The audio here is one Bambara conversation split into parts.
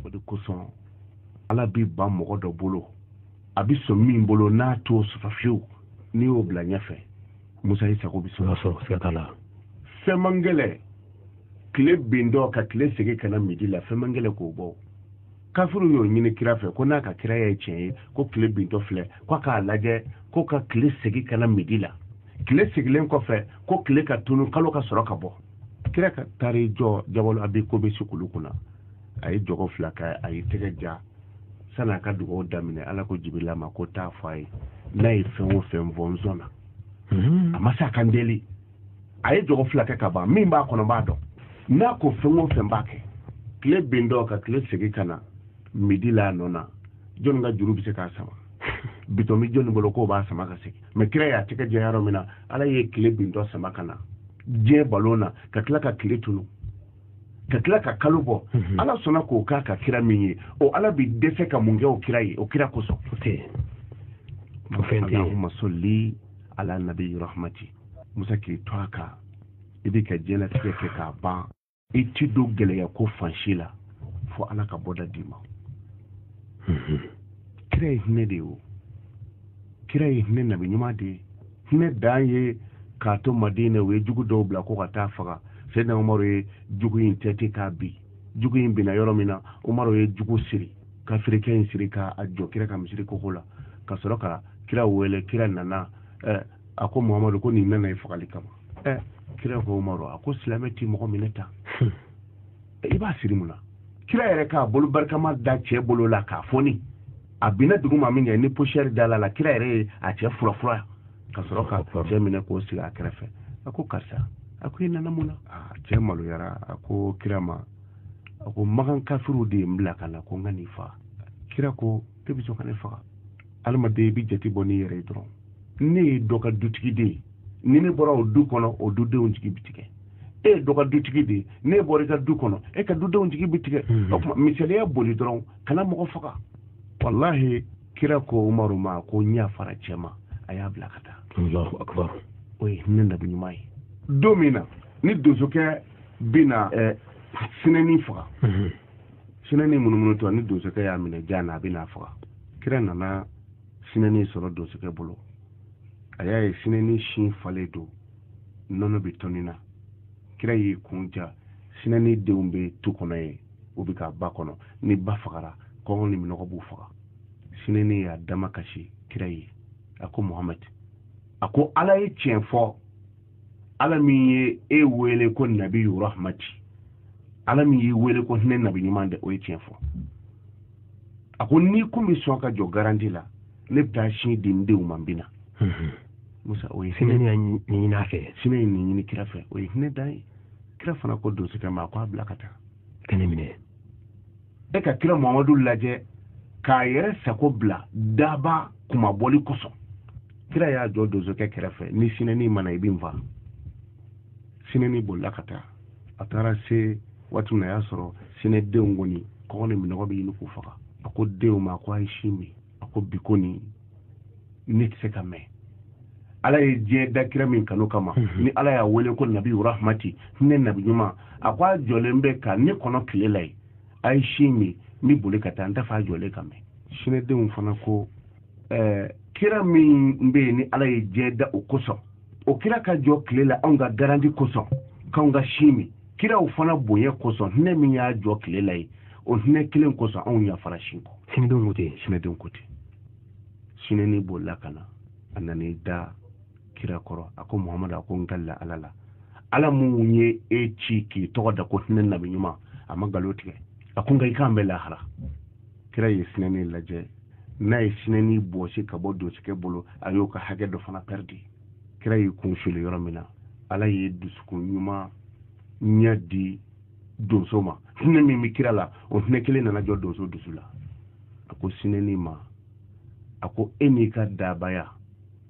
o de kosɔn ala bɛ ban mɔgɔ dɔ bolo a bɛ sɔn min bolo n'a t'o sɔrɔ fiyewu n'i y'o bila ɲɛfɛ musa i sago bɛ sɔrɔ siga t'a la fɛn man gɛlɛ tile bintɔ ka tile segin ka na midi la fɛn man gɛlɛ k'o bɔ kafiriw y'o ɲini kira fɛ ko n'a ka kira ye tiɲɛ ye ko tile bintɔ filɛ ko k'a lajɛ ko ka tile segin ka na midi la tile segilen kɔfɛ ko tile ka tunu kalo ka sɔrɔ ka bɔ kira ka taa i jɔ jabalu abi kubɛsi kulu kunna a ye jɔgɔ fila kɛ a ye tɛgɛ ja sani a ka dugawu daminɛ ala ko jibirila ma ko taa fɔ a ye n'a ye fɛn o fɛn fɔ n sɔnna a ma sani a ka n deli a ye jɔgɔ fila kɛ ka ban min b'a kɔnɔ n b'a dɔn n'a ko fɛn o fɛn n b'a kɛ tile bintɔ ka tile segin ka na midi la a nɔ na jɔnni ka juru bɛ se k'a sama bitɔn bɛ jɔnni bolo k'o b'a sama ka segin mɛ kira y'a tɛgɛ ja yɔrɔ min na ala ye tile bintɔ sama ka na diɲɛ balon na ka tila ka tile tunu ka tila ka kalo bɔ mhm. ala sɔnna k'o k'a ka kira min ye o ala bi dɛsɛ ka mun kɛ o kira ye o kira kosɔn allahumma salli ala nabi rahmati musa k'i to a kan i b'i ka diɲɛlatigɛ kɛ k'a ban i ti don gɛlɛya ko fan si la fo ala ka bɔda d'i ma mhm. kira ye hinɛ de ye o kira ye hinɛ nabi ɲuman de ye hinɛ dan ye k'a to madina u ye jugu dɔw bila ko ka taa a faga sɛdina umaru ye jugu in tɛti k'a bin jugu in binna yɔrɔ min na umaru ye jugu siri kafirikɛ in siri k'a jɔ kira ka misiri koko la ka sɔrɔ ka kira wele kira nana eh, a ko muhamadu ko nin nana i fagali kama eh. kira ko umaru a ko silamɛ ti mɔgɔ minɛ tan hmm. i b'a siri mun na kira yɛrɛ k'a bolo barikama da cɛ bolo la k'a foni a binna dugu ma min kɛ ni posiyɛri dala a la kira yɛrɛ ye a cɛ furafura ka sɔrɔ ka cɛ minɛ k'o sigi a kɛrɛfɛ a ko karisa a ko i nana mun na ah, cɛ maloyara a ko kira ma a ko makan kafiriw de ye n bila ka na ko n ka n'i faga kira ko e bɛ sɔn ka ne faga adamaden i bɛ jate bɔ n'i yɛrɛ ye dɔrɔn ne ye dɔ ka dutigi de ye ni ne bɔra o du kɔnɔ o dudenw jigi bi tigɛ e ye dɔ ka dutigi de ye n'e bɔra i ka du kɔnɔ e ka dudenw jigi bi tigɛ mhm. o tuma misaliya boli dɔrɔn kana mɔgɔ faga walahi kira ko umaru ma ko n yafara cɛ ma a y'a bila ka taa o ye hinɛ nabi ɲuman ye don min na ni donsokɛ bɛna eh, sinɛni faga mhm. sinɛni munumunutɔ ni donsokɛ y'a minɛ jan na a bɛ n'a faga kira nana sinɛni sɔrɔ donsokɛ bolo a y'a ye sinɛni sin falen don nɔnɔ bɛ tɔni na kira y'i kun ja sinɛni denw bɛ tu kɔnɔ ye u bɛ ka ba kɔnɔ ni ba fagara kɔngɔ ni minɔgɔ b'u faga sinɛni y'a damakasi kira ye a ko muhamadi a ko ala ye tiɲɛ fɔ ala min ye e wele ko nabi rahmati ala min y'i wele ko hinɛ nabi ɲuman de o ye tiɲɛ fɔ a ko n'i kun bɛ sɔn ka jɔ garanti la ne bɛ taa sin di n denw ma n bɛ na mhm. musa o ye hinɛ ɲini a fɛ sinɛ ye nin ɲini kira fɛ o ye hinɛ dan ye kira fana ko donsokɛ ma a ko a bila ka taa ka ne minɛ e ka kira mamadu lajɛ k'a yɛrɛ sago bila daba kumabɔli kosɔn kira y'a jɔ donsokɛ kɛrɛfɛ ni sinɛni ma na i bɛ n faa sinɛni bolila ka taa a taara se waati min na a y'a sɔrɔ sinɛdenw kɔni kɔngɔ ni minnɔgɔ bɛ ɲini k'u faga a ko denw ma ko a ye sin min a ko bi kɔni ne tɛ se ka mɛn ala ye diɲɛ da kira min kanu kama mhm. ni ala y'a wele ko nabi rahmati hinɛ nabi ɲuman a ko a jɔlen bɛ ka ne kɔnɔ tile la yen a ye sin min n bɛ boli ka taa n t'a fɛ a jɔlen ka mɛn sinɛdenw fana ko ɛɛ kira min bɛ yen ni ala ye diɲɛ da o kosɔn o kira ka jɔ tile la anw ka garanti kosɔn k'anw ka sin min kiraw fana bonya kosɔn hinɛ min y'a jɔ tile la yen o hinɛ kelen kosɔn anw yafara sin kɔ sinɛdenw ko ten sinɛdenw ko ten sinɛni bolila ka na a nan'i da kira kɔrɔ a ko muhamadu a ko n kalila ala la ala min ye e ci k'i tɔgɔ da ko hinɛ nabi ɲuman a ma nkalon tigɛ a ko nka i k'an bɛn lahara kira ye sinɛni lajɛ n'a ye sinɛni bɔsi ka bɔ donsokɛ bolo a y'o ka hakɛ dɔ fana pɛridi kira y'i kun suli yɔrɔ min na ala ye dusukun ɲumanya di donso ma hinɛ min bɛ kira la o hinɛ kelen nana jɔ donso dusu la a ko sinɛni ma a ko e n'i ka dabaya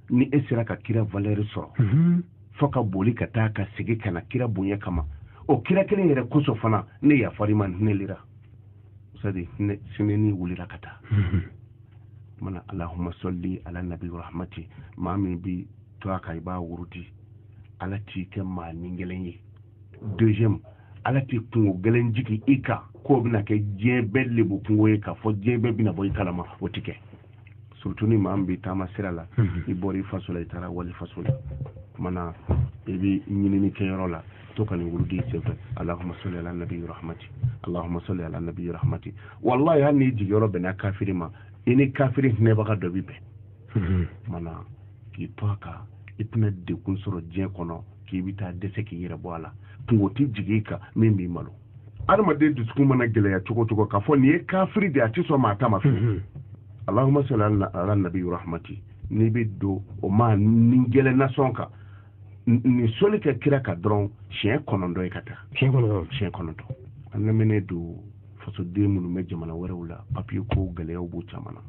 ni e sera ka kira valeur sɔrɔ mhm. fo ka boli ka taa ka segin ka na kira bonya kama o kira kelen yɛrɛ kosɔn fana ne yafar'i ma hinɛlira sadi sinɛni wulila ka taa mana allahumma salli ala nabi rahmati maa min b'i to a kan i b'a wurudi ala t'i kɛ maa ni gɛlɛn ye deuxième ala tɛ kunko gɛlɛn jigin i kan k'o bɛna kɛ diɲɛ bɛɛ lebu kunko ye k'a fɔ diɲɛ bɛɛ bɛna bɔ i kalama o ti kɛ surtout ni maa min bɛ taama sira la mhm. i bɔra i faso la i taara walifaso la mana i bɛ ɲinini kɛ yɔrɔ la to ka nin wurudi senfɛ allahumma salli ala nabi rahmati allahumma salli ala nabi rahmati wallahi hali n'i jigiyɔrɔ bɛnna kafiri ma i ni kafiri hinɛbaga dɔ bɛ bɛn mhm. mana k'i to a kan i tɛna degun sɔrɔ diɲɛ kɔnɔ k'i bɛ taa dɛsɛ k'i yɛrɛ bɔ a la kunko tɛ jigin i kan min b'i malo adamaden dusukun mana gɛlɛya cogo cogo k'a fɔ nin ye kafiri de a tɛ sɔn maa ta ma fiyewu allahumma salli ala nabi rahmati n'i bɛ don o maa ni gɛlɛn na sɔn ka nin soli kɛ kira kan dɔrɔn siɲɛ kɔnɔntɔn ye ka taa siɲɛ kɔnɔntɔn an lamɛnnen don fasoden minnu bɛ jamana wɛrɛw la papiye ko gɛlɛyaw b'u caman na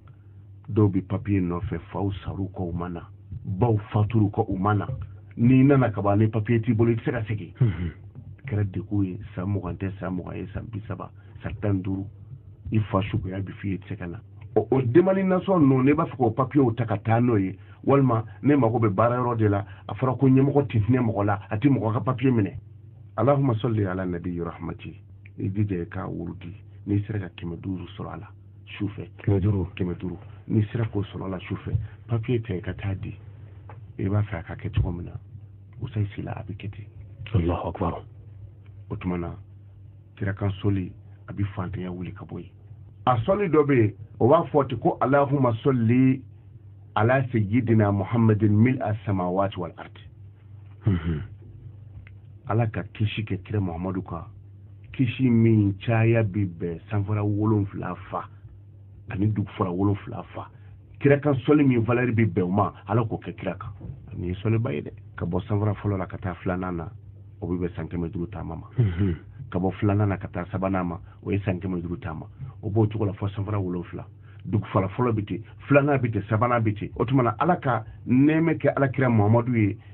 dɔw bɛ papiye nɔfɛ faw sara u kɔ u ma na baw fatura u kɔ u ma na n'i nana ka ban ni papiye t'i bolo i tɛ se ka segin mhm. kɛra degun ye san mugan tɛ san mugan ye san bi saba san tan duuru i fa sukoya bɛ f'i ye i tɛ se ka na o o demalinasɔn ninnu ne b'a fɛ k'o papiyew ta ka taa n'o ye walima ne mago bɛ baara yɔrɔ de la a fɔra ko ɲɛmɔgɔ tɛ hinɛ mɔgɔ la a tɛ mɔgɔ ka papiye minɛ alahuma sɔli ala nabi rahmati i jija i k'a wurudi n'i sera ka kɛmɛ duuru sɔrɔ a la sufɛ kɛmɛ duuru n'i sera k'o sɔrɔ a la sufɛ papiye ta i ka taa di i b'a fɛ a ka kɛ cogo min na usayi sila a bɛ kɛ ten alahu akbar o tuma na kira kan sɔli a bɛ fantanya wuli ka bɔ yen a sɔli dɔ bɛ yen o b'a fɔ ten ko alahuma sɔli ala sayyidina muhammadin mil a samawati wal ardi mhm. ala ka kisi kɛ kira muhammadu kan kisi min caya bɛ bɛn sanfara wolonfila fa ani dugufara wolonfila fa kira kan sɔli min valɛri bɛ bɛn o ma ala k'o kɛ kira kan nin ye sɔliba ye dɛ ka bɔ sanfara fɔlɔ la ka taa filanan na o bɛ bɛn san kɛmɛ duuru taama ma mhm. ka bɔ filanan na ka taa sabanan ma o ye san kɛmɛ duuru taama o b'o cogo la fɔ sanfara wolonfila dugufara fɔlɔ bɛ ten filanan bɛ ten sabanan bɛ ten o tuma na ala ka nɛɛmɛ kɛ ala kira muhamadu ye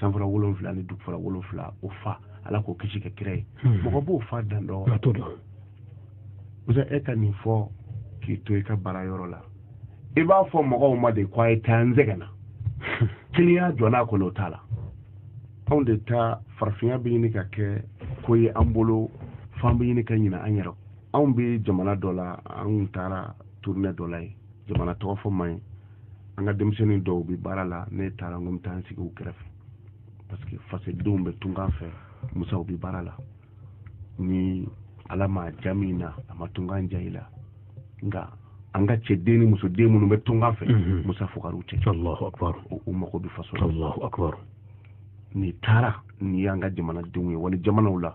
sanfara wolonfila ni dugufara wolonfila o fa ala k'o kisi kɛ kira ye hmm. mɔgɔ b'o fa dan dɔn musa e ka nin fɔ k'i to i ka baara yɔrɔ la i b'a fɔ mɔgɔw ma de ko a ye taa n sɛgɛnna kiliyan jɔ n'a kɔnɔ o t'a la anw de ta farafinya bɛ ɲini ka kɛ ko ye an bolo f'an bɛ ɲini ka ɲina an yɛrɛ anw bɛ jamana dɔ la an taara turunɛ dɔ la yen jamana tɔgɔ fɔ man ɲi an ka denmisɛnnin dɔw bɛ baara la ne taara n ko n bɛ taa n sigi u kɛrɛfɛ parce que fasodenw bɛ tunkan fɛ musa u bɛ baara la ni ala ma ja min na a ma tunkan ja i la nka an ka cɛ den ni muso den minnu bɛ tunkan fɛ mhm. musa fugariw tɛ u mago bɛ faso la n'i taara n'i y'an ka jamanadenw ye wali jamanaw la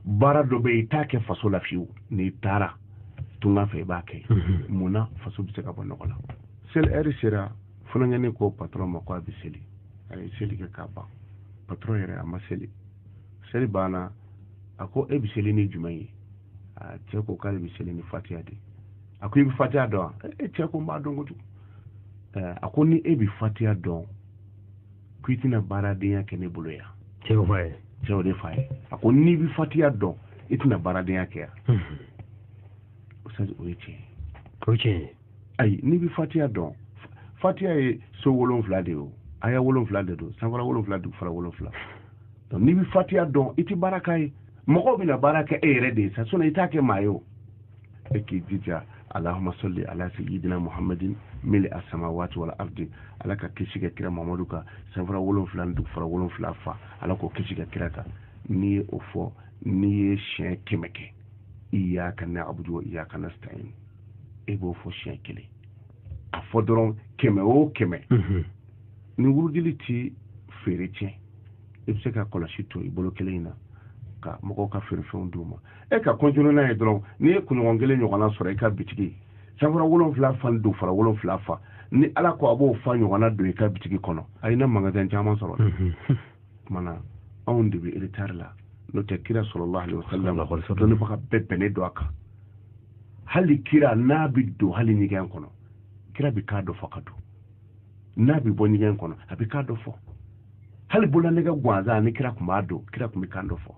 baara dɔ bɛ yen i t'a kɛ faso la fiyewu n'i taara tunga fɛ i b'a kɛ mhm. mun na faso bɛ se ka bɔ nɔgɔ la seli ɛri sera funankɛnin ko patɔrɔn ma ko a bɛ seli a ye seli kɛ k'a ban patɔrɔn yɛrɛ a ma seli seli banna a ko e bɛ seli ni jumɛn ye a cɛ ko k'ale bɛ seli ni fatiya de a ko i bɛ fatiya dɔn wa e cɛ ko n b'a dɔn kojugu a ko ni e bɛ fatiya dɔn ko i tɛna baaradenya kɛ ne bolo yan cɛ y'o f'a ye cɛ y'o de f'a ye a ko n'i bɛ fatiya dɔn i tɛna baaradenya kɛ yan ustaz o ye tiɲɛ ye o ye tiɲɛ ye ayi n'i bɛ fatiya dɔn fatiya ye so wolonfila de ye o aya wolonfila de don sanfara wolonfila dugufara wolonfila donc n'i bɛ fatiya dɔn i tɛ baara k'a ye mɔgɔw bɛna baara kɛ e yɛrɛ de ye sa sinɔn i t'a kɛ maa ye o e k'i jija alahuma sɔli ala seyidina muhamadin mili asamawati wali ardi ala ka kisi ka kira muhamadu kan sanfara wolonfila ni dugufara wolonfila fa ala k'o kisi ka kira kan n'i ye o fɔ n'i ye siɲɛ kɛmɛ kɛ iyaka na'budu wa iyaka nasta'in e b'o fɔ siɲɛ kelen a fɔ dɔrɔn kɛmɛ o kɛmɛ mhm. nin wurudili ti feere tiɲɛ i bɛ se ka kɔlɔsi to i bolo kelen in na ka mɔgɔw ka feerefɛnw d'u ma e ka kɔntinu n'a ye dɔrɔn n'i ye kunɲɔgɔn kelen ɲɔgɔnna sɔrɔ i ka bitigi sanfara wolonfila fa dugufara wolonfila fa ni ala ko a b'o fa ɲɔgɔnna don i ka bitigi kɔnɔ ayi i na mangasan caman sɔrɔ kumana anw de bɛ eretari la n'o tɛ kira salalahu alayihi wasalama dɔnnibaga bɛɛ bɛnnen don a kan hali kira n'a bɛ don hali ɲɛgɛn kɔnɔ kira bɛ kan dɔ fɔ ka don n'a bɛ bɔ ɲɛgɛn kɔnɔ a bɛ kan dɔ fɔ hali bololanɛgɛ gansan ni kira tun b'a don kira tun bɛ kan dɔ fɔ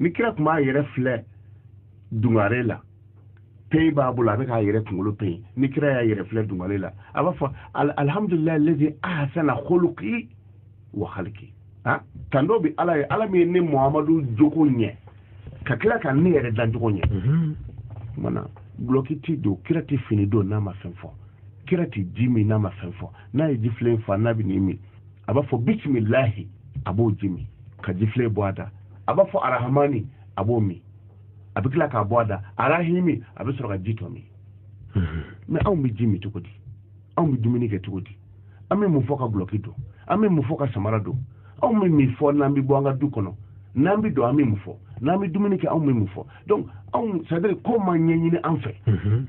ni kira tun b'a yɛrɛ filɛ dungare la peyi b'a bolo a bɛ k'a yɛrɛ kunkolo peyi ni kira y'a yɛrɛ filɛ dungare la a b'a fɔ alihamudulilayi lezi ahasana huluki wa haliki ah, tando bɛ ala ye ala min ye ne muhamadu jogo ɲɛ ka tila ka ne yɛrɛ dancogo ɲɛ mhm. mana gulɔki ti don kira tɛ fini don n'a ma fɛn fɔ kira tɛ ji min n'a ma fɛn fɔ n'a ye jifilen fa n'a bɛ nin min a b'a fɔ bisimilahi a b'o ji min ka jifilen bɔ a da a b'a fɔ arahamani a b'o min a bɛ tila k'a bɔ a da arahimi a bɛ sɔrɔ ka ji tɔ min mhm. mɛ anw bɛ ji min cogo di anw bɛ dumuni kɛ cogo di an bɛ mun fɔ ka gulɔki don an bɛ mun fɔ ka samara don anw bɛ mun fɔ n'an bɛ bɔ an ka du kɔnɔ n'an bɛ don an bɛ mun fɔ n'an bɛ dumuni kɛ anw bɛ mun fɔ donc anw c'est à dire ko ma ɲɛɲini an fɛ mhm.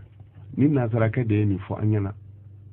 ni nansarakɛ de ye nin fɔ an ɲɛna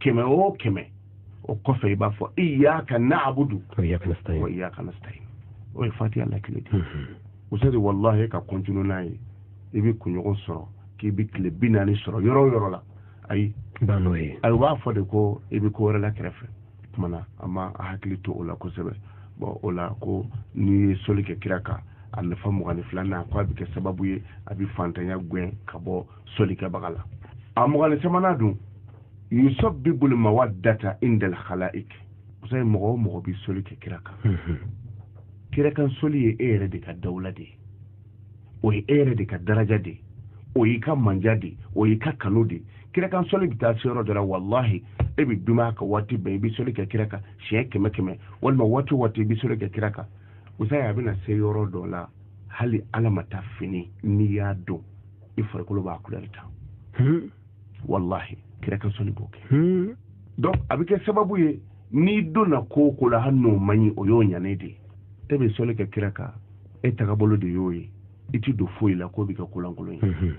kɛmɛ o kɛmɛ o kɔfɛ i b'a fɔ iyaka na'budu wa iyaka nasta'in o ye fatiya lakile de usadi walahi ka kɔntinu n'a ye i bɛ kunɲɔgɔn sɔrɔ k'i bɛ tile bi naani sɔrɔ yɔrɔ o yɔrɔ la ayi n'o ye ayi u b'a fɔ de ko i bɛ ko wɛrɛ la kɛrɛfɛ tuma na an ma a hakili to o la kosɛbɛ bɔn o la ko n'i ye soli kɛ kira kan a nafa mugan ni filanan ko a bɛ kɛ sababu ye a bɛ fantanya gɛn ka bɔ solikɛbaga la a mugan ni sabanan dun yusabibu li mawadata indal khalaik musa ye mɔgɔ o mɔgɔ bi soli kɛ kira kan mhm. kira kan soli ye e yɛrɛ de ka dawula de ye o ye e yɛrɛ de ka daraja de ye o y'i ka manja de ye o y'i ka kanu de ye kira kan soli bɛ taa se yɔrɔ dɔ la walahi e bɛ dumaya ka waati bɛɛ i bɛ soli kɛ kira kan siɲɛ kɛmɛ kɛmɛ walima waati o waati i bɛ soli kɛ kira kan musa ye a bɛna se yɔrɔ dɔ la hali ala ma taa fini n'i y'a dɔn i farikolo b'a kulɛri ta hmm. wallahi kira ka sɔli b'o kɛ hmm. donc a bɛ kɛ sababu ye n'i donna ko o ko la hali n'o man ɲi o y'o ɲanen de ye e bɛ sɔli kɛ kira kan e tagabolo de y'o ye i ti don foyi la k'o bɛ kɛ ko lankolon ye hmm.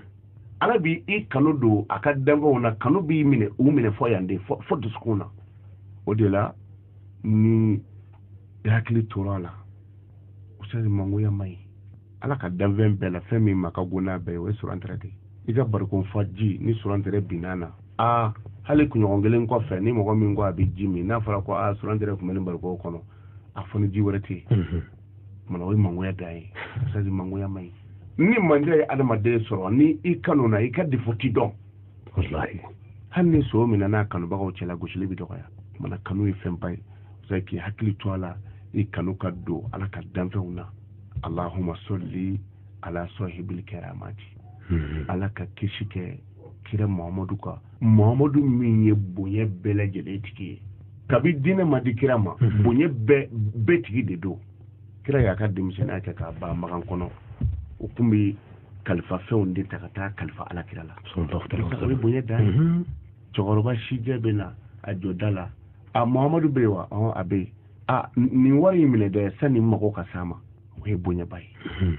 ala bi i kanu don a ka danfɛnw na kanu b'i minɛ u minɛ fo yan de fo dusukun na o de la ni i hakili tora a la usadi mangoya man ɲi ala ka danfɛn bɛɛ la fɛn min ma ka go n'a bɛɛ o ye surantɛrɛ de i ka barikon fa ji ni surantɛrɛ binna a na hali kunɲɔgɔn kelen kɔfɛ ni mɔgɔ min ko a bɛ ji min n'a fɔra ko a surantɛrɛ tun bɛ nin barikon kɔnɔ a fo ni ji wɛrɛ tɛ yen tuma na o ye mangoya dan ye usadi mangoya man ɲi ni mandiya ye adamaden sɔrɔ ni i kanuna i ka defo ti dɔn hali ni son minɛna a kanubagaw cɛ la gosili bɛ dɔgɔya tuma na kanu ye fɛnba ye k'i hakili to a la i kanu ka don ala ka danfɛnw na alahuma soli ala sɔhibili kɛramati hmm. ala ka kisi kɛ kira muhamadu kan muhamadu min ye bonya bɛɛ lajɛlen tigi ye kabi diinɛ ma di kira ma hmm. bonya bɛɛ tigi de don kira y'a ka denmisɛnninya kɛ k'a ban makan kɔnɔ u tun bɛ kalifafɛnw de ta ka taa kalifa ala kira la o ye bonya dan ye cɛkɔrɔba sijɛ bɛ na a jɔ da la a muhamadu bɛ yen wa a bɛ yen a nin wari in minɛ dɛ sani mago ka s'a ma o ye bonyaba ye hmm.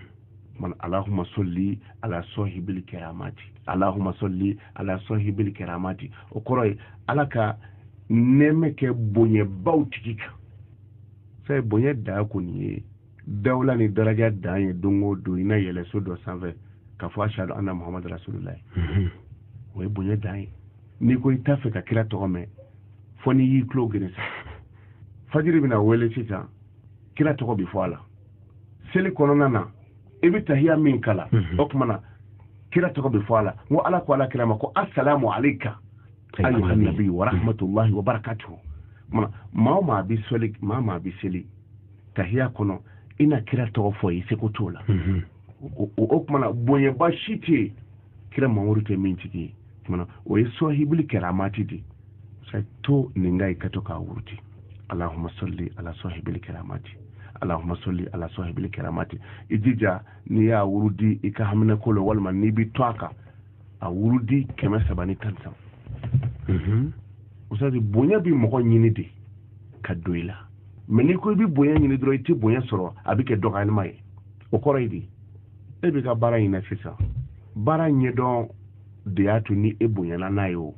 man alahuma sɔli ala sɔhibili kɛramati alahuma sɔli ala sɔhibili kɛramati o kɔrɔ ye ala ka nɛɛma kɛ bonyabaw tigi kan sabu bonya dan kɔni ye dawula ni daraja dan ye don o don i na yɛlɛ so dɔ sanfɛ ka fɔ ashadu anna muhamadu rasululayi hmm. o ye bonya dan ye n'i ko i t'a fɛ ka kira tɔgɔ mɛn fɔ n'i y'i tulo geren sa fajiri bɛna wele sisan kira tɔgɔ bɛ fɔ a la seli kɔnɔna na i bɛ tahiya min kalan mhm. o tuma na kira tɔgɔ bɛ fɔ a la n ko ala ko ala kira ma ko asalamu aleyka ayyuhan nabi wa rahmatulahi wa barakatuhu maa o maa bɛ seli maa o maa bɛ seli tahiya kɔnɔ i na kira tɔgɔ fɔ i seko t'o la mhm. o tuma na bonyaba si tɛ yen kira mamadu tɛ min tigi ye tuma na o ye sɔhibuli kɛramati de sa to nin kan i ka to k'a wurudi alahuma sɔli ala sɔhibuli kɛramati alahuma sɔli ala sɔhibuli kɛramati i jija n'i y'a wurudi i ka haminanko la walima n'i bɛ to a kan a wurudi kɛmɛ saba ni tan saba mhm. usadi bonya bɛ mɔgɔ ɲini de ka don i la mɛ n'i ko i bɛ bonya ɲini dɔrɔn i tɛ bonya sɔrɔ a bɛ kɛ dɔgɔyalima ye o kɔrɔ ye di e bɛ ka baara in na sisan baara ɲɛdɔn de y'a to ni e bonyana n'a ye o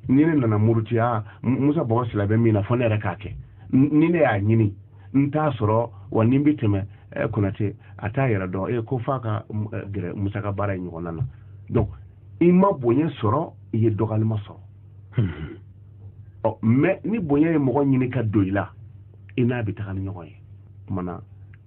ni ne nana muruti musa bɔgɔ sila bɛ min na fɔ ne yɛrɛ k'a kɛ ni ne y'a ɲini n t'a sɔrɔ wa ni n bɛ tɛmɛ eh, konate a t'a yɛrɛ dɔn e ko f'a ka eh, gɛrɛ musa ka baara in ɲɔgɔnna na donc i ma bonya sɔrɔ i ye dɔgɔyalima sɔrɔ hmm. ɔ mais ni bonya ye mɔgɔ ɲini ka don i la i n'a bɛ taga ni ɲɔgɔn ye kumana